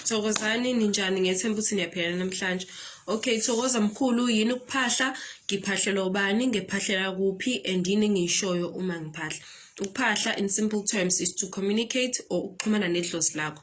Thokozani ninjani ngethemba ukuthi niyaphila namhlanje. Okay Thokoza mkhulu yini ukuphahla ngiphahlelwa ubani ngiphahlela kuphi and yini ngishoyo uma ngiphahla. Ukuphahla in simple terms is to communicate or ukuxhumana nedlozi lakho.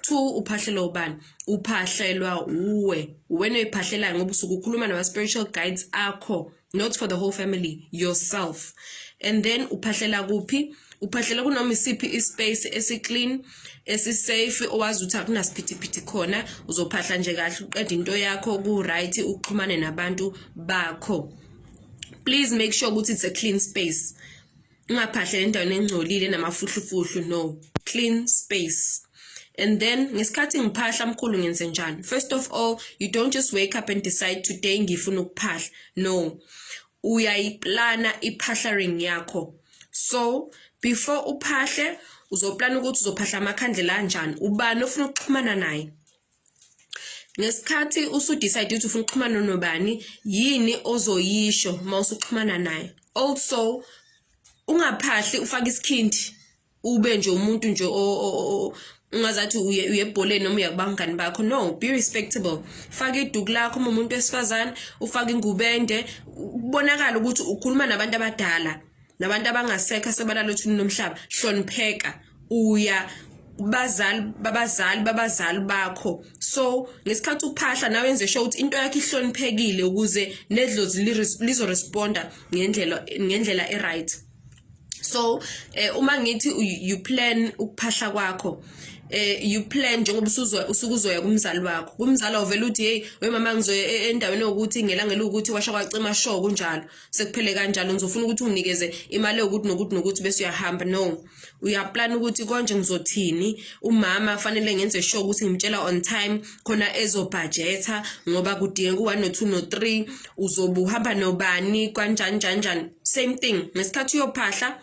two uphahlelwa ubani uphahlelwa uwe uwena oyiphahlelayo ngoba usuke ukhuluma nama-spiritual guides akho not for the whole family yourself and then uphahlela kuphi uphahlela kunoma isiphi ispace esiclean esisafe owazi ukuthi akunasiphithiphithi khona uzophahla nje kahle uqeda into yakho ku-right uxhumane nabantu bakho please make sure ukuthi it's a clean space ungaphahlele endaweni engcolile enamafuhlufuhlu no clean space and then ngesikhathi ngiphahla mkhulu ngenze njani first of all you don't just wake up and decide today ngifuna ukuphahla no uyayiplana iphahlaring yakho so before uphahle uzoplana ukuthi uzophahla amakhandlela anjani ubani ofuna ukuxhumana naye ngesikhathi usudecide ukuthi ufuna ukuxhumana nobani yini ozoyisho uma usuxhumana naye also ungaphahli ufake isikhindi ube nje umuntu nje ungazathi uye uyebholeni noma uyakubangani bakho no be respectable faka iduku lakho uma umuntu wesifazane ufake ingubende kubonakala ukuthi ukhuluma nabantu abadala nabantu abangasekho asebalala othuni lomhlaba hlonipheka uya bazali babazali babazali bakho so ngesikhathi uphahla nawe enze sure ukuthi into yakhe ihloniphekile ukuze nedlozi lizo responda ngendlela ngendlela e right so eh, uma ngithi you plan ukuphahla kwakho eh you plan njengoba usuzwa usukuzoya kumzali wakho kumzali ovela uthi hey we mama ngizoya e-, endaweni yokuthi ngelangela ukuthi washa kwacima show kunjalo sekuphele kanjalo ngizofuna ukuthi unginikeze imali yokuthi nokuthi nokuthi bese uyahamba no uyaplana ukuthi konje ngizothini umama fanele ngenze sure ukuthi ngimtshela on time khona ezobhajetha ngoba kudingeka u-one no-two no-three uzobe uhamba nobani kanjani njani njani same thing ngesikhathi uyophahla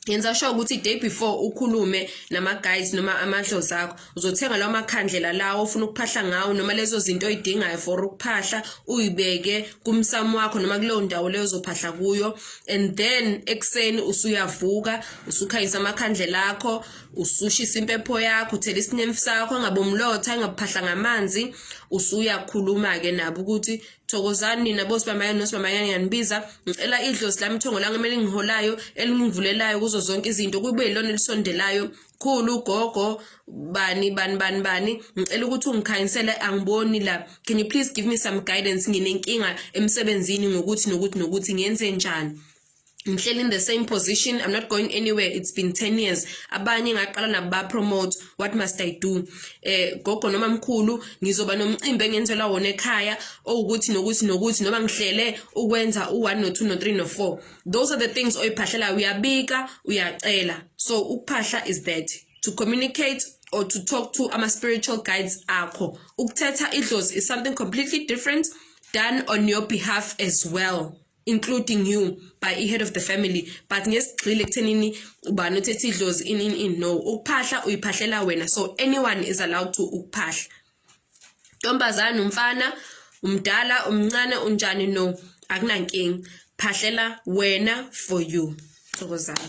yenza sure ukuthi day before ukhulume nama guys noma amadlozi akho uzothenga lawo makhandlela lawo ofuna ukuphahla ngawo noma lezo zinto oyidingayo for ukuphahla uyibeke kumsamo wakho noma kuleyo ndawo leyo uzophahla kuyo and then ekuseni usuyavuka usukhanyisa amakhandlela akho usushisa impepho yakho uthela isinemfu sakho angabomlotha angabuphahla ngamanzi usuyakhuluma-ke nabo ukuthi thokozani nina bosibamanyana nosibamanyana ngiyangibiza ngicela idlozi lami ithongo lami kumele ngiholayo elingivulelayo kuzo zonke izinto kube yilona elisondelayo khulu gogo bani bani bani bani ngicela ukuthi ungikhanyisele angiboni la can you please give me some guidance nginenkinga emsebenzini ngokuthi nokuthi nokuthi ngenze njani ngihleli in the same position i'm not going anywhere it's been 10 years abanye ngaqala nabo ba promote what must i do eh gogo noma mkhulu ngizoba nomcimbi engenzela wona ekhaya owukuthi nokuthi nokuthi noma ngihlele ukwenza u1 no 2 no 3 no 4 those are the things oyiphahlela uyabika uyacela so ukuphahla is that to communicate or to talk to ama spiritual guides akho ukuthetha idlozi is something completely different done on your behalf as well including you by i-head of the family but ngesigxile ekuthenini ubani othethe idlozi in in in no ukuphahla uyiphahlela wena so anyone is allowed to ukuphahla ntombazane umfana umdala umncane unjani no akunankinga phahlela wena for you thokozana